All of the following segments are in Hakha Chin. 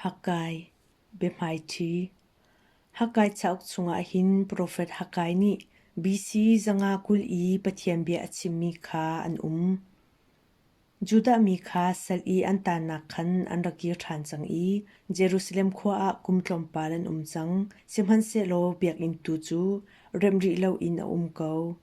Haggai biahmaiṭhi Haggai cauk chungah hin profet Haggai nih BC zanga kul i Pathian bia a chimmi kha an um. Judah mi kha sal i an tannak khan an ra kir ṭhan cang i Jerusalem khua ah kum tlawmpal an um cang, sihmanhsehlaw biakinn tu cu rem rih loin a um ko.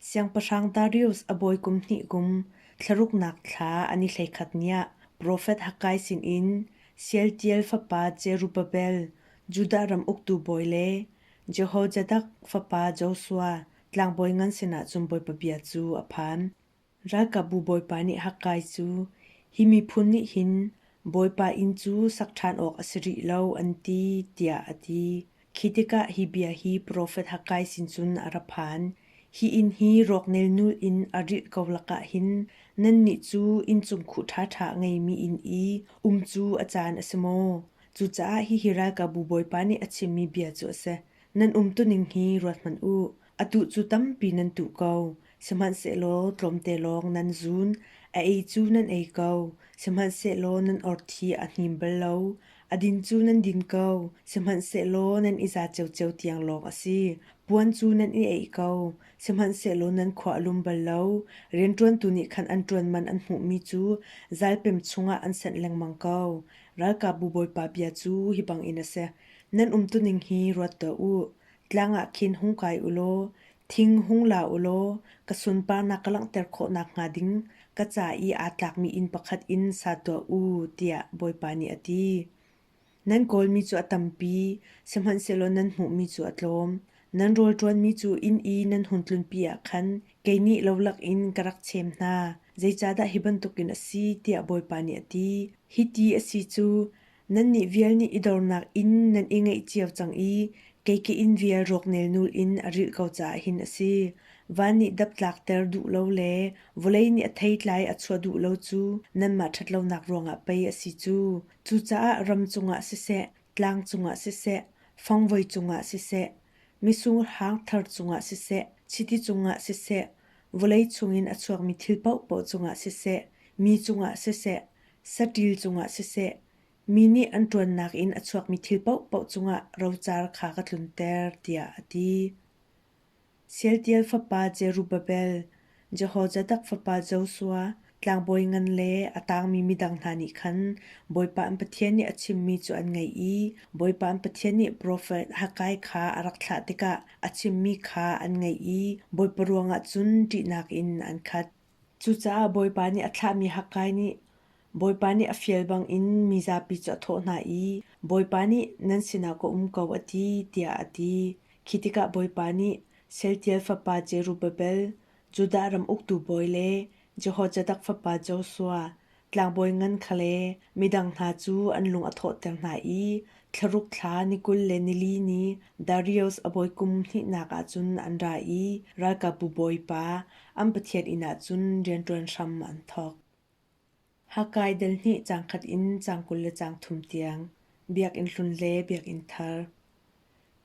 Siangpahrang Darius a bawi kum hnih kum thlaruknak thla an i hleikhat niah profet Haggai sinin Sealtiel fapa Jerubbabel, Judah ram uktu bawi le Jehozadak fapa Joshua, tlangbawi ngan sinah cun bawipa bia cu a phan. Ralkapbu Bawipa nih Haggai cu, Hi miphun nih hin Bawipa inn cu sak ṭhan awk a si rih lo, an ti, tiah a ti. Khi tikah hi bia hi profet Haggai sin cun a ra phan, Hi inn hi rawknelnul in a rilh ko lakah hin nannih cu inncung khuh ṭhaṭha a ngeimi inn i um cu a caan a si maw? Cucaah hihi Ralkapbu Bawipa nih a chimmi bia cu a si, Nan umtuning hi ruathmanh u. Atu cu tampi nan tuh ko. Sihmanhsehlaw tlawmte lawng nan zun. A ei cu nan ei ko. Sihmanhsehlaw nan orthi a hnim bal lo. A din cu nan din ko. Sihmanhsehlaw nan i za ciocio tiang lawng a si. Puan cu nan i eih ko. Sihmanhsehlaw nan khuahlum bal lo. Rianṭuantu nih khan an ṭuanman an hmuhmi cu zalpem chungah an senh lengmang ko. Ralkapbu Bawipa bia cu hi bangin a si: Nan umtuning hi ruat tuah u. Tlang ah khin hung kai u law, thing hung la u law, ka sunparnak ka langhter khawh nakhnga ding ka ca i aa tlakmi inn pakhat in sa tuah u, tiah Bawipa nih a ti. Nan kawlmi cu a tampi, sihmanhsehlaw nan hmuhmi cu a tlawm. Nan rawlṭuanmi cu inn i nan hun tlunpi ah khan kei nih lo lakin ka rak chem hna, zeicahdah hi bantukin a si? tiah Bawipa nih a ti. Hiti a si cu, Nan nih vial nih i dornak in nan i ngeih cio cang i kei ka inn vial rawknel nul in a rilh ko caah hin a si. Van nih dap tlakter duh lo le vawlei nih a theitlai a chuah duh lo cu nanmah ṭhatlonak ruangah pei a si cu. Cucaah ram cungah siseh, tlang cungah siseh, fangvoi cungah siseh, misur hang thar cungah siseh, chiti cungah siseh, vawlei chungin a chuakmi thil paohpaoh cungah siseh, mi cungah siseh, saṭil cungah siseh, mi nih an ṭuannak in a chuakmi thil paohpaoh cungah rocar kha ka tlunter, tiah a ti. Sealtiel fapa Jerubbabel, Jehozadak fapa Joshua, tlangbawi ngan le a tangmi midang hna nih khan Bawipa an Pathian nih a chimmi cu an ngaih i Bawipa an Pathian nih profet Haggai kha a rak thlah tikah a chimmi kha an ngaih i Bawipa ruangah cun ṭihnak in an khat. Cucaah Bawipa nih a thlahmi Haggai nih Bawipa nih a fial bangin mi zapi cu a thawh hna i, Bawipa nih nan sinah ka um ko a ti, tiah a ti. Khi tikah Bawipa nih Sealtiel fapa Jerubabel, Judah ram uktu bawi le Jehozadak fapa Joshua, Tlangbawi ngan khale midang hna cu an lung a thawhter hna i thlaruk thla ni kul le nili ni Darius a bawi kum hnihnak ah cun an ra i ralkapbu bawipa an pathian inn ah cun rianṭuan hram an thawk. Hakkai delhnih cang khat in cang kul le cang thum tiang Biakinn hlun le Biakinn thar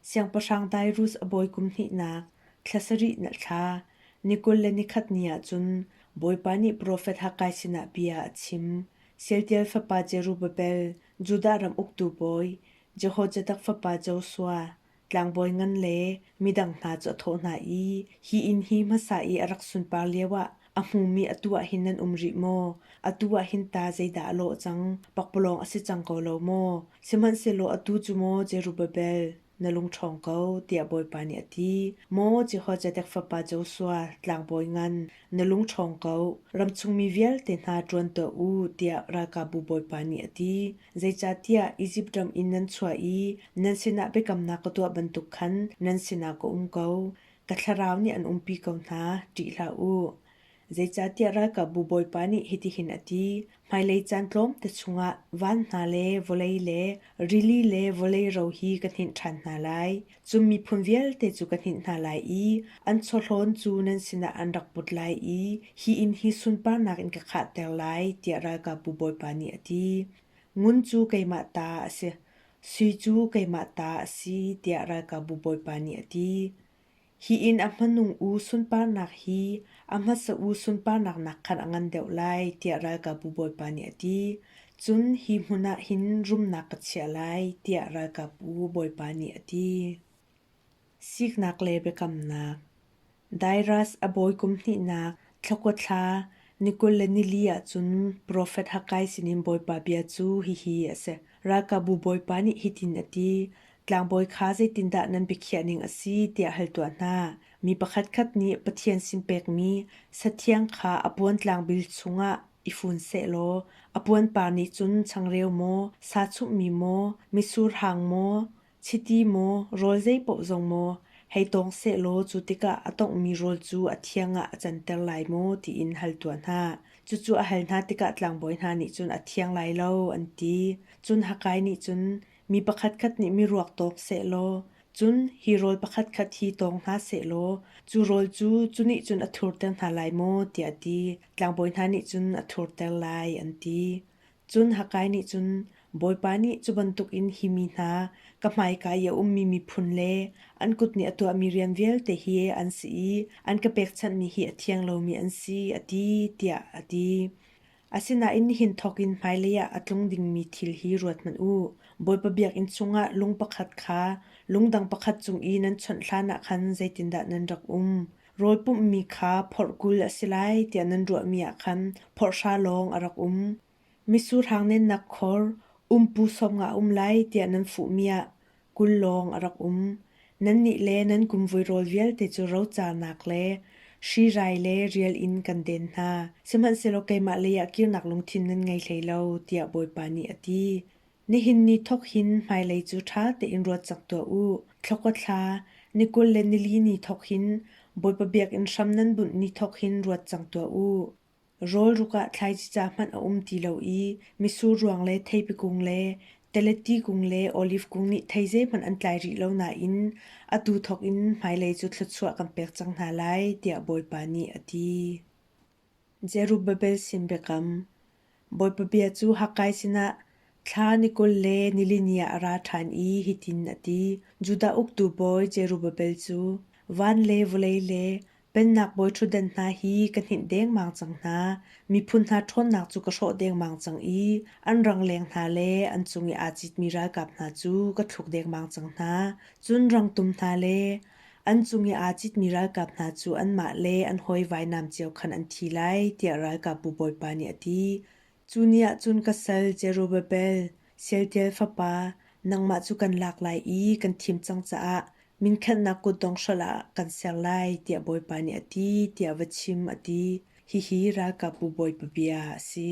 Siangpahrang Tairus a bawi kum hnihnak, thla sarih na thla, ni kul le ni khat ni ah cun Bawipa nih profet Haggai sinah bia a chim, Sealtiel fapa Jerubbabel, Judah ram uktu bawi, Jehozadak fapa Joshua, tlangbawi ngan le midang hna cu a thawh hna i, Hi inn hi hmasa i a rak sunpar lioah A hmumi atu ah hin nan um rih maw? Atu ah hin ta zeidah a lawh cang? Pakpalawng a si cang ko lo maw? Sihmanhsehlaw atu cu maw Zerubbabel na lungṭhawng ko, tiah Bawipa nih a ti. Maw Jehozadak fapa Joshua tlangbawi ngan, na lungṭhawng ko, ramchungmi vialte hna ṭuan tuah u, tiah ralkapbu Bawipa nih a ti. Zeicahtiah Izipt ram in nan chuah i nan sinah biakamnak ka tuah bantuk khan nan sinah ka um ko. ka thlarau nih an umpi ko hna, ṭih hlah u. Zeicahtiah ralkapbu Bawipa nih hitihin a ti, Hmailei caan tlawmte chungah van hna le vawlei le rili le vawlei ro hi ka hninh ṭhan hna lai. Cun miphun vialte cu ka hninh hna lai i an chawhlawn cu nan sinah an rak put lai i hi inn hi sunparnak in ka khahter lai, tiah ralkapbu Bawipa nih a ti. Ngun cu keimah ta a si. Sui cu keimah ta a si tiah ralkapbu bawipa nih a ti. Hi inn a hmanung u sunparnak hi a hmasa u sunparnak nak khan a ngan deuh lai tiah ralkapbu bawipa nih a ti. Cun hi hmun ah hin rumnak ka chiah lai tiah ralkapbu bawipa nih a ti. Siknak le biakamnak Dairas a bawi kum hnihnak Thla Thla ni kul le nili ahcun Profet Haggai sinin Bawipa bia cu hihi a si: Ralkapbu Bawipa nih hitin a ti, Tlangbawi kha zeitindah nan biakhiah ning a si tiah hal tuah hna. Mi pakhatkhat nih Pathian sin pekmi sathiang kha a puantlang bil chungah i fun sehlaw a puanpar nih cun changreu maw, sa chumhmi maw, mitsur hang maw, Chiti maw rawl zeipaoh zong maw hei tawng sehlaw cu tikah a tonghmi rawl cu a thiang ah a canter lai maw tiin hal tuah hna. Cucu a hal hna tikah tlangbawi hna nih cun a thiang lai lo an ti. Cun Hakai nih cun mi pakhatkhat nih miruak tawk sehlaw cun hi rawl pakhatkhat hi tawng hna sehlaw cu rawl cu cu nih cun a thurter hna lai maw tiah a ti. Tlangbawi hna nih cun a thurter lai an ti. Cun Haggai nih cun, Bawipa nih cu bantukin hi mi hna, ka hmaika i a ummi miphun le an kut nih a tuahmi rian vialte hi an si i an ka pekchanhmi hi a thiang lomi an si, a ti, tiah a ti. Asinain nihin thawkin hmailei ah a tlung dingmi thil hi ruathmanh u. Bawipa biakinn chungah lung pakhat kha lungdang pakhat cung i nan chawnh hlanah khan zeitindah nan rak um? Rawl pumhmi kha phorhkul a si lai tiah nan ruahmi ah khan phorhhra lawng a rak um. Misurhang nennak khor umpu sawmnga a um lai tiah nan fuhmi ah kul lawng a rak um. Nannih le nan kumvui rawl vialte cu rocanak le hrirai le rial in kan den hna, sihmanhsehlaw keimah leiah kirnak lungthin nan ngei hlei lo, tiah Bawipa nih a ti. Nihin ni thawk hin hmailei cu ṭha tein ruat cak tuah u. Thla kua thla, ni kul le nili ni thawk hin Bawipa biakinn hram nan bunh ni thawk hin ruat cang tuah u. Rawlruk ah thlaicica hmanh a um ti lo i misur ruang le theipi kung le teleti kung le oliv kung nih thei zeihmanh an tlai rih lo nain atu thawk in hmailei cu thluachuah kan pek cang hna lai, tiah Bawipa nih a ti. Zerubbabel sin biakam Bawipa bia cu Hakkai sinah thla ni kul le nilini ah a ra ṭhan i hitin a ti: Judah uktu bawi Zerubbabel cu van le vawlei le pennak bawi ṭhutdan hna hi ka hninh dengmang cang hna. Miphun hna ṭhawnnak cu ka hrawh dengmang cang i an rangleng hna le an cung i aa citmi ralkap hna cu ka thluk dengmang cang hna. Cun rangtum hna le An cung i aa citmi ralkap hna cu anmah le an hawi vainam cio khan an thi lai, tiah ralkapbu bawipa nih a ti. Cu ni ah cun ka sal Zerubbabel, Sealtiel fapa, nangmah cu kan lak lai i kan thim cang caah minkhatnak kutdong hrolh ah kan ser lai, tiah bawipa nih a ti, tiah va chim, a ti. Hihi ralkapbu bawipa bia a si.